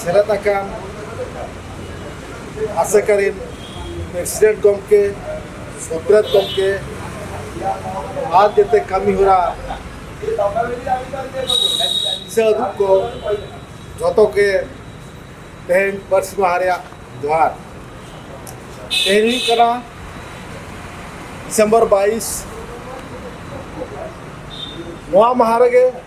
ᱥᱮᱞᱮᱫ ᱟᱠᱟᱱ ᱟᱥᱮᱠᱟ ᱨᱮᱱ ᱯᱨᱮᱥᱤᱰᱮᱱᱴ ᱜᱚᱢᱠᱮ ᱥᱚᱛᱨᱮᱛ ᱜᱚᱢᱠᱮ ᱟᱨ ᱡᱮᱛᱮ ᱠᱟᱹᱢᱤ ᱦᱚᱨᱟ ᱫᱤᱥᱟᱹ ᱩᱫᱩᱜ ᱠᱚ ᱡᱚᱛᱚ ᱜᱮ ᱛᱮᱦᱮᱧ ᱯᱟᱹᱨᱥᱤ ᱢᱟᱦᱟ ᱨᱮᱭᱟᱜ ᱡᱚᱦᱟᱨ ᱛᱮᱦᱮᱧ ᱦᱩᱭᱩᱜ ᱠᱟᱱᱟ ᱰᱤᱥᱮᱢᱵᱚᱨ ᱵᱟᱭᱤᱥ ᱱᱚᱣᱟ ᱢᱟᱦᱟ ᱨᱮᱜᱮ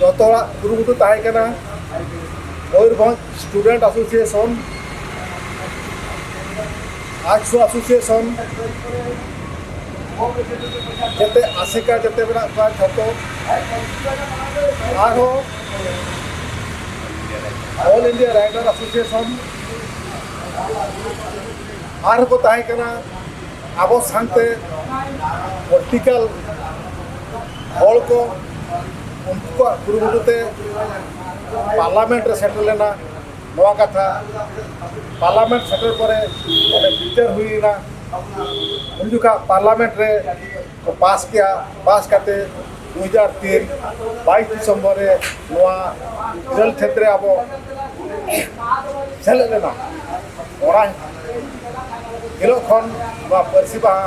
ᱡᱚᱛᱚ ᱦᱚᱲᱟᱜ ᱠᱩᱨᱩᱢᱩᱴᱩ ᱛᱟᱦᱮᱸ ᱠᱟᱱᱟ Mayurbhanj student association arts association ᱡᱟᱛᱮ ᱟᱥᱮᱠᱟ ᱡᱟᱛᱮ ᱢᱮᱱᱟᱜ ᱠᱚᱣᱟ ᱡᱷᱚᱛᱚ ᱟᱨᱦᱚᱸ ᱚᱞ ᱤᱱᱰᱤᱭᱟ ᱨᱟᱭᱰᱟᱨ ᱮᱥᱳᱥᱤᱭᱮᱥᱚᱱ ᱟᱨᱦᱚᱸ ᱠᱚ ᱛᱟᱦᱮᱸ ᱠᱟᱱᱟ ᱟᱵᱚ ᱥᱟᱶᱛᱮ ᱯᱚᱞᱤᱴᱤᱠᱮᱞ ᱦᱚᱲ ᱠᱚ ᱩᱱᱠᱩ ᱠᱚᱣᱟᱜ ᱠᱩᱨᱩᱢᱩᱴᱩ ᱛᱮ ᱯᱟᱨᱞᱟᱢᱮᱱᱴ ᱨᱮ ᱥᱮᱴᱮᱨ ᱞᱮᱱᱟ ᱱᱚᱣᱟ ᱠᱟᱛᱷᱟ ᱯᱟᱨᱞᱟᱢᱮᱱᱴ ᱥᱮᱴᱮᱨ ᱯᱚᱨᱮ ᱚᱸᱰᱮ ᱵᱤᱪᱟᱹᱨ ᱦᱩᱭᱮᱱᱟ ᱩᱱ ᱡᱚᱠᱷᱟᱜ ᱯᱟᱨᱞᱟᱢᱮᱱᱴ ᱨᱮ ᱠᱚ ᱯᱟᱥ ᱠᱮᱜᱼᱟ ᱯᱟᱥ ᱠᱟᱛᱮ ᱫᱩ ᱦᱟᱡᱟᱨ ᱛᱤᱱ ᱵᱟᱭᱤᱥ ᱰᱤᱥᱮᱢᱵᱚᱨ ᱨᱮ ᱱᱚᱣᱟ ᱤᱨᱟᱹᱞ ᱠᱷᱮᱛ ᱨᱮ ᱟᱵᱚ ᱥᱮᱞᱮᱫ ᱞᱮᱱᱟ ᱚᱱᱟ ᱦᱤᱞᱳᱜ ᱠᱷᱚᱱ ᱱᱚᱣᱟ ᱯᱟᱹᱨᱥᱤ ᱢᱟᱦᱟ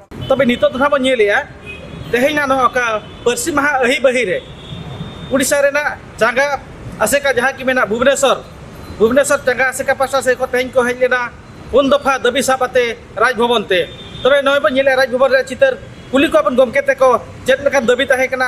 ᱛᱚᱵᱮ ᱱᱤᱛᱚᱜ ᱫᱚ ᱱᱟᱦᱟᱜ ᱵᱚᱱ ᱧᱮᱞᱮᱜᱼᱟ ᱛᱮᱦᱮᱧᱟᱜ ᱱᱚᱣᱟ ᱚᱠᱟ ᱯᱟᱹᱨᱥᱤ ᱢᱟᱦᱟ ᱟᱹᱦᱤ ᱵᱟᱹᱦᱤ ᱨᱮ ᱩᱲᱤᱥᱥᱟ ᱨᱮᱱᱟᱜ ᱪᱟᱸᱜᱟ ᱟᱥᱮᱠᱟ ᱡᱟᱦᱟᱸ ᱠᱤ ᱢᱮᱱᱟᱜ ᱵᱷᱩᱵᱽᱱᱮᱥᱚᱨ ᱵᱷᱩᱵᱽᱱᱮᱥᱚᱨ ᱪᱟᱸᱜᱟ ᱟᱥᱮᱠᱟ ᱯᱟᱥᱴᱟ ᱥᱮᱫ ᱠᱷᱚᱱ ᱛᱮᱦᱮᱧ ᱠᱚ ᱦᱮᱡ ᱞᱮᱱᱟ ᱯᱩᱱ ᱫᱚᱯᱷᱟ ᱫᱟᱹᱵᱤ ᱥᱟᱵ ᱟᱛᱮ ᱨᱟᱡᱽ ᱵᱷᱚᱵᱚᱱ ᱛᱮ ᱛᱚᱵᱮ ᱱᱚᱜᱼᱚᱭ ᱵᱚᱱ ᱧᱮᱞᱮᱜᱼᱟ ᱨᱟᱡᱽ ᱵᱷᱚᱵᱚᱱ ᱨᱮᱭᱟᱜ ᱪᱤᱛᱟᱹᱨ ᱠᱩᱞᱤ ᱠᱚᱣᱟ ᱵᱚᱱ ᱜᱚᱢᱠᱮ ᱛᱮᱠᱚ ᱪᱮᱫ ᱞᱮᱠᱟᱱ ᱫᱟᱹᱵᱤ ᱛᱟᱦᱮᱸ ᱠᱟᱱᱟ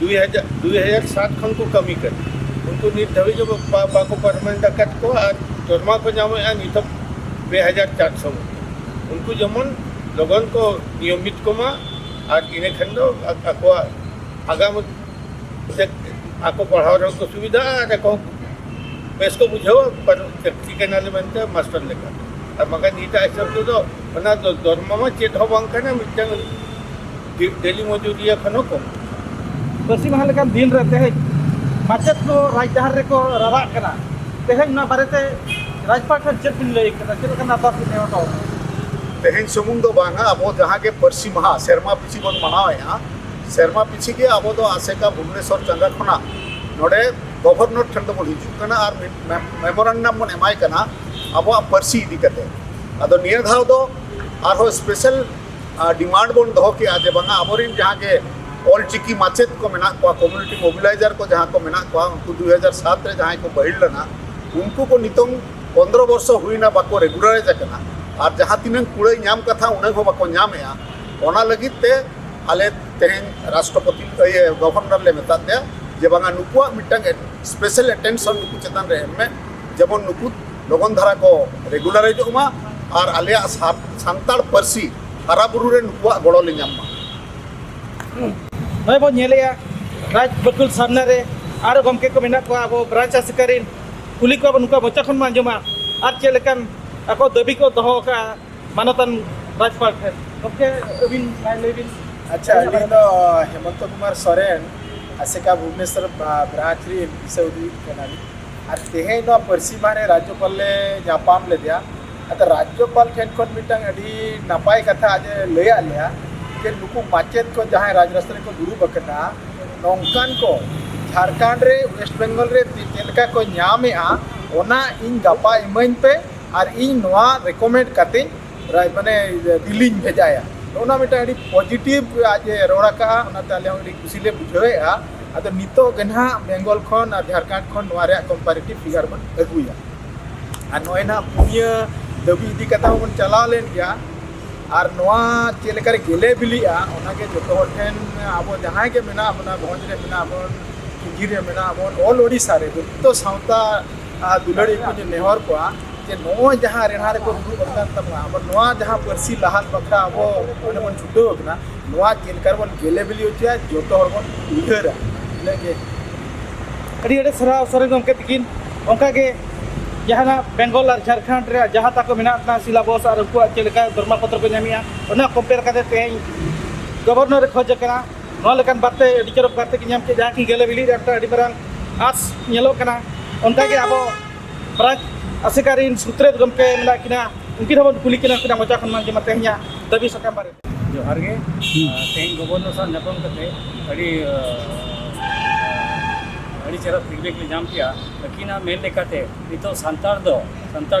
ᱫᱩᱭ ᱦᱟᱡᱟᱨ ᱫᱩᱭ ᱦᱟᱡᱟᱨ ᱥᱟᱛ ᱠᱷᱚᱱ ᱠᱚ ᱠᱟᱹᱢᱤ ᱠᱟᱱᱟ ᱩᱱᱠᱩ ᱱᱤᱛ ᱫᱷᱟᱹᱵᱤᱡ ᱦᱚᱸ ᱵᱟ- ᱵᱟᱠᱚ ᱯᱟᱨᱢᱟᱱᱮᱱᱴ ᱟᱠᱟᱫ ᱠᱚᱣᱟ ᱟᱨ ᱫᱚᱨᱢᱟ ᱠᱚ ᱧᱟᱢᱮᱫᱼᱟ ᱱᱤᱛ ᱦᱚᱸ ᱯᱮ ᱦᱟᱡᱟᱨ ᱪᱟᱨᱥᱚ ᱩᱱᱠᱩ ᱡᱮᱢᱚᱱ ᱞᱚᱜᱚᱱ ᱠᱚ ᱱᱤᱭᱚᱢᱤᱛ ᱠᱚᱢᱟ ᱟᱨ ᱤᱱᱟᱹ ᱠᱷᱟᱱ ᱫᱚ ᱟ- ᱟᱠᱚᱣᱟᱜ ᱟᱜᱟᱢ ᱥᱮ ᱟᱠᱚ ᱯᱟᱲᱦᱟᱣ ᱨᱮᱦᱚᱸ ᱠᱚ ᱥᱩᱵᱤᱫᱷᱟᱜᱼᱟ ᱟᱨ ᱟᱠᱚ ᱦᱚᱸ ᱵᱮᱥ ᱠᱚ ᱵᱩᱡᱷᱟᱹᱣᱟ ᱯᱟᱨ- ᱪᱟᱹᱠᱨᱤ ᱠᱟᱱᱟᱞᱮ ᱢᱮᱱᱛᱮ ᱢᱟᱥᱴᱟᱨ ᱞᱮᱠᱟ ᱟᱨ ᱵᱟᱝᱠᱷᱟᱱ ᱱᱤᱛᱟᱜ ᱦᱤᱥᱟᱹᱵ ᱛᱮᱫᱚ ᱚᱱᱟ ᱫᱚ ᱫᱚᱨᱢᱟ ᱢᱟ ᱪᱮᱫ ᱦᱚᱸ ᱵᱟᱝ ᱠᱟᱱᱟ ᱢᱤᱫᱴᱟᱝ ᱰᱮᱞᱤ ᱢᱚᱡᱩᱨᱤᱭᱟᱹ ᱠᱷᱚᱱ ᱦᱚᱸ ᱠᱚᱢ ᱯᱟᱹᱨᱥᱤ ᱢᱟᱦᱟ ᱞᱮᱠᱟᱱ ᱫᱤᱱ ᱨᱮ ᱛᱮᱦᱮᱧ ᱢᱟᱪᱮᱫ ᱠᱚ ᱨᱟᱡᱽ ᱰᱟᱦᱟᱨ ᱨᱮᱠᱚ ᱨᱟᱨᱟᱜ ᱠᱟᱱᱟ ᱛᱮᱦᱮᱧ ᱱᱚᱣᱟ ᱵᱟᱨᱮᱛᱮ ᱨᱟᱡᱽᱯᱟᱴ ᱠᱷᱚᱱ ᱪᱮᱫ ᱵᱤᱱ ᱞᱟᱹᱭ ᱠᱟᱱᱟ ᱪᱮᱫ ᱞᱮᱠᱟᱱ ᱟᱨᱫᱟᱥ ᱵᱤᱱ ᱮᱢ ᱦᱚᱴᱚ ᱛᱮᱦᱮᱧ ᱥᱩᱢᱩᱝ ᱫᱚ ᱵᱟᱝᱟ ᱟᱵᱚ ᱡᱟᱦᱟᱸ ᱜᱮ ᱯᱟᱹᱨᱥᱤ ᱢᱟᱦᱟ ᱥᱮᱨᱢᱟ ᱯᱤᱪᱷᱤ ᱵᱚᱱ ᱢᱟᱱᱟᱣᱮᱫᱼᱟ ᱥᱮᱨᱢᱟ ᱯᱤᱪᱷᱤ ᱜᱮ ᱟᱵᱚ ᱫᱚ ᱟᱥᱮᱠᱟ ᱵᱷᱩᱵᱽᱱᱮᱥᱚᱨ ᱪᱟᱸᱜᱟ ᱠᱷᱚᱱᱟᱜ ᱱᱚᱰᱮ ᱜᱚᱵᱷᱚᱨᱱᱚᱨ ᱴᱷᱮᱱ ᱫᱚᱵᱚᱱ ᱦᱤᱡᱩᱜ ᱠᱟᱱᱟ ᱟᱨ ᱢᱮᱢᱳᱨᱟᱱᱰᱟᱢ ᱵᱚᱱ ᱮᱢᱟᱭ ᱠᱟᱱᱟ ᱟᱵᱚᱣᱟᱜ ᱯᱟᱹᱨᱥᱤ ᱤᱫᱤ ᱠᱟᱛᱮ ᱟᱫᱚ ᱱᱤᱭᱟᱹ ᱫᱷᱟᱣ ᱫᱚ ᱟᱨᱦᱚᱸ ᱥᱯᱮᱥᱟᱞ ᱰᱤᱢᱟᱱᱰ ᱵᱚᱱ ᱫᱚᱦᱚ ᱠᱮᱜᱼᱟ ᱡᱮ ᱵᱟᱝᱟ ᱟᱵᱚᱨᱮᱱ ᱡᱟᱦᱟᱸ ᱜᱮ ᱚᱞ ᱪᱤᱠᱤ ᱢᱟᱪᱮᱫ ᱠᱚ ᱢᱮᱱᱟᱜ ᱠᱚᱣᱟ ᱠᱚᱢᱤᱭᱩᱱᱤᱴᱤ ᱢᱳᱵᱤᱞᱟᱭᱡᱟᱨ ᱠᱚ ᱡᱟᱦᱟᱸ ᱠᱚ ᱢᱮᱱᱟᱜ ᱠᱚᱣᱟ ᱩᱱᱠᱩ ᱫᱩ ᱦᱟᱡᱟᱨ ᱥᱟᱛ ᱨᱮ ᱡᱟᱦᱟᱸᱭ ᱠᱚ ᱵᱟᱹᱦᱤᱞ ᱞᱮᱱᱟ ᱩᱱᱠᱩ ᱠᱚ ᱱᱤᱛᱚᱝ ᱯᱚᱱᱫᱨᱚ ᱵᱚᱨᱥᱚ ᱦᱩᱭᱱᱟ ᱵᱟᱠᱚ ᱨᱮᱜᱩᱞᱟᱨᱟᱭᱤᱡᱽ ᱟᱠᱟᱱᱟ ᱟᱨ ᱡᱟᱦᱟᱸ ᱛᱤᱱᱟᱹᱝ ᱠᱩᱲᱟᱹᱭ ᱧᱟᱢ ᱠᱟᱛᱷᱟ ᱩᱱᱟᱹᱜ ᱦᱚᱸ ᱵᱟᱠᱚ ᱧᱟᱢᱮᱜᱼᱟ ᱚᱱᱟ ᱞᱟᱹᱜᱤᱫ ᱛᱮ ᱟᱞᱮ ᱛᱮᱦᱮᱧ ᱨᱟᱥᱴᱨᱚᱯᱚᱛᱤ ᱤᱭᱟᱹ ᱜᱚᱵᱷᱚᱨᱱᱚᱨ ᱞᱮ ᱢᱮᱛᱟᱫ ᱯᱮᱭᱟ ᱡᱮ ᱵᱟᱝᱟ ᱱᱩᱠᱩᱣᱟᱜ ᱢᱤᱫᱴᱟᱝ ᱥᱯᱮᱥᱟᱞ ᱮᱴᱮᱱᱥᱚᱱ ᱱᱩᱠᱩ ᱪᱮᱛᱟᱱ ᱨᱮ ᱮᱢ ᱢᱮ ᱡᱮᱢᱚᱱ ᱱᱩᱠᱩ ᱞᱚᱜᱚᱱ ᱫᱷᱟᱨᱟ ᱠᱚ ᱨᱮᱜᱩᱞᱟᱨᱟᱭᱤᱡᱚᱜ ᱢᱟ ᱟᱨ ᱟᱞᱮᱭᱟᱜ ᱥᱟᱱᱛᱟᱲ ᱯᱟᱹᱨᱥᱤ ᱦᱟᱨᱟ ᱵᱩᱨᱩ ᱨᱮ ᱱᱩᱠᱩᱣᱟᱜ ᱜᱚᱲᱚ ᱞᱮ ᱧᱟᱢ ᱢᱟ ᱱᱚᱜᱼᱚᱭ ᱵᱚᱱ ᱧᱮᱞᱮᱜᱼᱟ ᱨᱟᱡᱽ ᱵᱟᱹᱠᱩᱞ ᱥᱟᱢᱱᱟ ᱨᱮ ᱟᱨ ᱜᱚᱢᱠᱮ ᱠᱚ ᱢᱮᱱᱟᱜ ᱠᱚᱣᱟ ᱟᱵᱚ ᱵᱨᱟᱧᱪ ᱟᱥᱮᱠᱟᱨᱤ ᱠᱩᱞᱤ ᱠᱚᱣᱟ ᱵᱚᱱ ᱱᱩᱠᱩᱣᱟᱜ ᱢᱚᱪᱟ ᱠᱷᱚᱱ ᱵᱚᱱ ᱟᱸᱡᱚᱢᱟ ᱟᱨ ᱪᱮᱫ ᱞᱮᱠᱟᱱ ᱟᱠᱚ ᱫᱟᱹᱵᱤ ᱠᱚ ᱫᱚᱦᱚ ᱟᱠᱟᱫᱼᱟ ᱢᱟᱱᱚᱛᱟᱱ ᱨᱟᱡᱽᱯᱟᱲ ᱴᱷᱮᱱ ᱜᱚᱢᱠᱮ ᱟᱹᱵᱤᱱ ᱞᱟᱹᱭ ᱵᱤᱱ ᱟᱪᱪᱷᱟ ᱟᱹᱞᱤᱧ ᱫᱚ ᱦᱮᱢᱚᱱᱛᱚ ᱠᱩᱢᱟᱨ ᱥᱚᱨᱮᱱ ᱟᱥᱮᱠᱟ ᱵᱷᱩᱵᱽᱱᱮᱥᱚᱨ ᱵᱨᱟᱧᱪ ᱨᱮᱱ ᱫᱤᱥᱟᱹ ᱩᱫᱩᱜᱤᱡ ᱠᱟᱱᱟᱞᱤᱧ ᱟᱨ ᱛᱮᱦᱮᱧ ᱱᱚᱣᱟ ᱯᱟᱹᱨᱥᱤ ᱢᱟᱦᱟ ᱨᱮ ᱨᱟᱡᱽᱡᱚᱯᱟᱞ ᱞᱮ ᱧᱟᱯᱟᱢ ᱞᱮᱫᱮᱭᱟ ᱟᱫᱚ ᱨᱟᱡᱽᱡᱚᱯᱟᱞ ᱴᱷᱮᱱ ᱠᱷᱚᱱ ᱢᱤᱫᱴᱟᱝ ᱟᱹᱰᱤ ᱱᱟᱯᱟᱭ ᱠᱟᱛᱷᱟ ᱟᱡ ᱮ ᱞᱟᱹᱭᱟᱫ ᱞᱮᱭᱟ ᱡᱮ ᱱᱩᱠᱩ ᱢᱟᱪᱮᱫ ᱠᱚ ᱡᱟᱦᱟᱸᱭ ᱨᱟᱡᱽ ᱨᱟᱥᱛᱟ ᱨᱮᱠᱚ ᱫᱩᱲᱩᱵ ᱟᱠᱟᱱᱟ ᱱᱚᱝᱠᱟᱱ ᱠᱚ ᱡᱷᱟᱲᱠᱷᱚᱸᱰ ᱨᱮ ᱳᱭᱮᱥᱴ ᱵᱮᱝᱜᱚᱞ ᱨᱮ ᱪᱮᱫ ᱞᱮᱠᱟ ᱠᱚ ᱧᱟᱢᱮᱜᱼᱟ ᱚᱱᱟ ᱤᱧ ᱜᱟᱯᱟ ᱤᱢᱟᱹᱧ ᱯᱮ ᱟᱨ ᱤᱧ ᱱᱚᱣᱟ ᱨᱮᱠᱚᱢᱮᱱᱰ ᱠᱟᱛᱮᱧ ᱢᱟᱱᱮ ᱫᱤᱞᱤᱧ ᱵᱷᱮᱡᱟᱭᱟ ᱚᱱᱟ ᱢᱤᱫᱴᱟᱝ ᱟᱹᱰᱤ ᱯᱚᱡᱤᱴᱤᱵᱷ ᱟᱡ ᱮ ᱨᱚᱲ ᱟᱠᱟᱫᱼᱟ ᱚᱱᱟᱛᱮ ᱟᱞᱮ ᱦᱚᱸ ᱟᱹᱰᱤ ᱠᱩᱥᱤ ᱞᱮ ᱵᱩᱡᱷᱟᱹᱣᱮᱫᱼᱟ ᱟᱫᱚ ᱱᱤᱛᱚᱜ ᱜᱮ ᱱᱟᱦᱟᱜ ᱵᱮᱝᱜᱚᱞ ᱠᱷᱚᱱ ᱟᱨ ᱡᱷᱟᱲᱠᱷᱚᱸᱰ ᱠᱷᱚᱱ ᱱᱚᱣᱟ ᱨᱮᱭᱟᱜ ᱠᱚᱢᱯᱟᱨᱮᱴᱤᱵᱷ ᱯᱷᱤᱜᱟᱨ ᱵᱚᱱ ᱟᱹᱜᱩᱭᱟ ᱟᱨ ᱱᱚᱜᱼᱚᱭ ᱱᱟᱦᱟᱜ ᱯᱩᱱᱭᱟᱹ ᱫᱟᱹᱵᱤ ᱤᱫᱤ ᱠᱟᱛᱮ ᱦᱚᱸ ᱵᱚᱱ ᱪᱟᱞᱟᱣ ᱞᱮᱱ ᱜᱮᱭᱟ ᱟᱨ ᱱᱚᱣᱟ ᱪᱮᱫ ᱞᱮᱠᱟᱨᱮ ᱜᱮᱞᱮ ᱵᱤᱞᱤᱜᱼᱟ ᱚᱱᱟᱜᱮ ᱡᱚᱛᱚ ᱦᱚᱲ ᱴᱷᱮᱱ ᱟᱵᱚ ᱡᱟᱦᱟᱸᱭ ᱜᱮ ᱢᱮᱱᱟᱜ ᱵᱚᱱᱟ ᱵᱷᱚᱸᱡᱽ ᱨᱮ ᱢᱮᱱᱟᱜ ᱵᱚᱱ ᱠᱩᱞᱦᱤ ᱨᱮ ᱢᱮᱱᱟᱜ ᱵᱚᱱ ᱚᱞ ᱳᱰᱤᱥᱟ ᱨᱮ ᱡᱚᱛᱚ ᱥᱟᱶᱛᱟ ᱫᱩᱞᱟᱹᱲᱤ ᱠᱚ ᱱᱮᱦᱚᱨ ᱠᱚᱣᱟ ᱡᱮ ᱱᱚᱜᱼᱚᱭ ᱡᱟᱦᱟᱸ ᱨᱮᱱᱟᱜ ᱨᱮᱠᱚ ᱫᱩᱲᱩᱵ ᱟᱠᱟᱱ ᱛᱟᱵᱚᱱᱟ ᱟᱵᱚ ᱱᱚᱣᱟ ᱡᱟᱦᱟᱸ ᱯᱟᱹᱨᱥᱤ ᱞᱟᱦᱟᱱ ᱵᱟᱠᱷᱨᱟ ᱟᱵᱚ ᱚᱸᱰᱮ ᱵᱚᱱ ᱪᱷᱩᱴᱟᱹᱣ ᱟᱠᱟᱱᱟ ᱱᱚᱣᱟ ᱪᱮᱫ ᱞᱮᱠᱟ ᱨᱮᱵᱚᱱ ᱜᱮᱞᱮ ᱵᱤᱞᱤ ᱦᱚᱪᱚᱭᱟ ᱡᱚᱛᱚ ᱦᱚᱲ ᱵᱚᱱ ᱩᱭᱦᱟᱹᱨᱟ ᱤᱱᱟᱹᱜ ᱜᱮ ᱟᱹᱰᱤ ᱟᱹᱰᱤ ᱥᱟᱨᱦᱟᱣ ᱥᱚᱨᱮᱱ ᱜᱚᱢᱠᱮ ᱛᱤᱠᱤᱱ ᱚᱱᱠᱟ ᱜᱮ ᱡᱟᱦᱟᱱᱟᱜ ᱵᱮᱝᱜᱚᱞ ᱟᱨ ᱡᱷᱟᱲᱠᱷᱚᱸᱰ ᱨᱮ ᱡᱟᱦᱟᱸ ᱛᱟᱠᱚ ᱢᱮᱱᱟᱜ ᱛᱟᱦᱮᱱᱟ ᱥᱤᱞᱟᱵᱚᱥ ᱟᱨ ᱩᱱᱠᱩᱣᱟᱜ ᱪᱮᱫ ᱞᱮᱠᱟ ᱫᱚᱨᱢᱟ ᱯᱚᱛᱨᱚ ᱠᱚ ᱧᱟᱢᱮᱜᱼᱟ ᱚᱱᱟ ᱠᱚᱢᱯᱮᱭᱟᱨ ᱠᱟᱛᱮ ᱛᱮᱦᱮᱧ ᱜᱚᱵᱷᱚᱨᱱᱚᱨᱮ ᱠᱷᱚᱡᱽ ᱟᱠᱟᱱᱟ ᱱᱚᱣᱟ ᱞᱮᱠᱟᱱ ᱵᱟᱨᱛᱮ ᱟᱹᱰᱤ ᱪᱚᱨᱚᱠ ᱵᱟᱨᱛᱮ ᱠᱚ ᱧᱟᱢ ᱠᱮᱫ ᱡᱟᱦᱟᱸ ᱠᱤ ᱜᱮᱞᱮ ᱵᱤᱞᱤ ᱨᱮ ᱢᱤᱫᱴᱟᱝ ᱟᱹᱰᱤ ᱢᱟᱨᱟᱝ ᱟᱸᱥ ᱧᱮᱞᱚᱜ ᱠᱟᱱᱟ ᱚᱱᱠᱟᱜᱮ ᱟᱵᱚ ᱯᱨᱟᱡᱽ ᱟᱥᱮᱠᱟ ᱨᱤᱱ ᱥᱩᱛᱨᱮᱛ ᱜᱚᱢᱠᱮ ᱢᱮᱱᱟᱜ ᱠᱤᱱᱟ ᱩᱱᱠᱤᱱ ᱦᱚᱸᱵᱚᱱ ᱠᱩᱞᱤ ᱠᱤᱱᱟ ᱩᱱᱠᱤᱱᱟᱜ ᱢᱚᱪᱟ ᱠᱷᱚᱱ ᱵᱟᱝ ᱡᱮᱢᱟ ᱛᱮᱦᱮᱧᱟᱜ ᱫᱟᱹᱵᱤ ᱥᱟᱠᱟᱢ ᱵᱟᱨᱮᱛᱮ ᱡᱚᱦᱟᱨ ᱜᱮ ᱛᱮᱦᱮᱧ ᱜᱚᱵᱚᱨᱱᱚᱨ ᱥᱟᱶ ᱧᱟᱯᱟᱢ ᱠᱟᱛᱮ ᱟᱹᱰᱤ ᱟᱹᱰᱤ ᱪᱮᱦᱨᱟ ᱯᱷᱤᱰᱵᱮᱠ ᱞᱮ ᱧᱟᱢ ᱠᱮᱜᱼᱟ ᱟᱹᱠᱤᱱᱟᱜ ᱢᱮᱱ ᱞᱮᱠᱟᱛᱮ ᱱᱤᱛᱚᱜ ᱥᱟᱱᱛᱟᱲ ᱫᱚ ᱥᱟᱱᱛᱟᱲ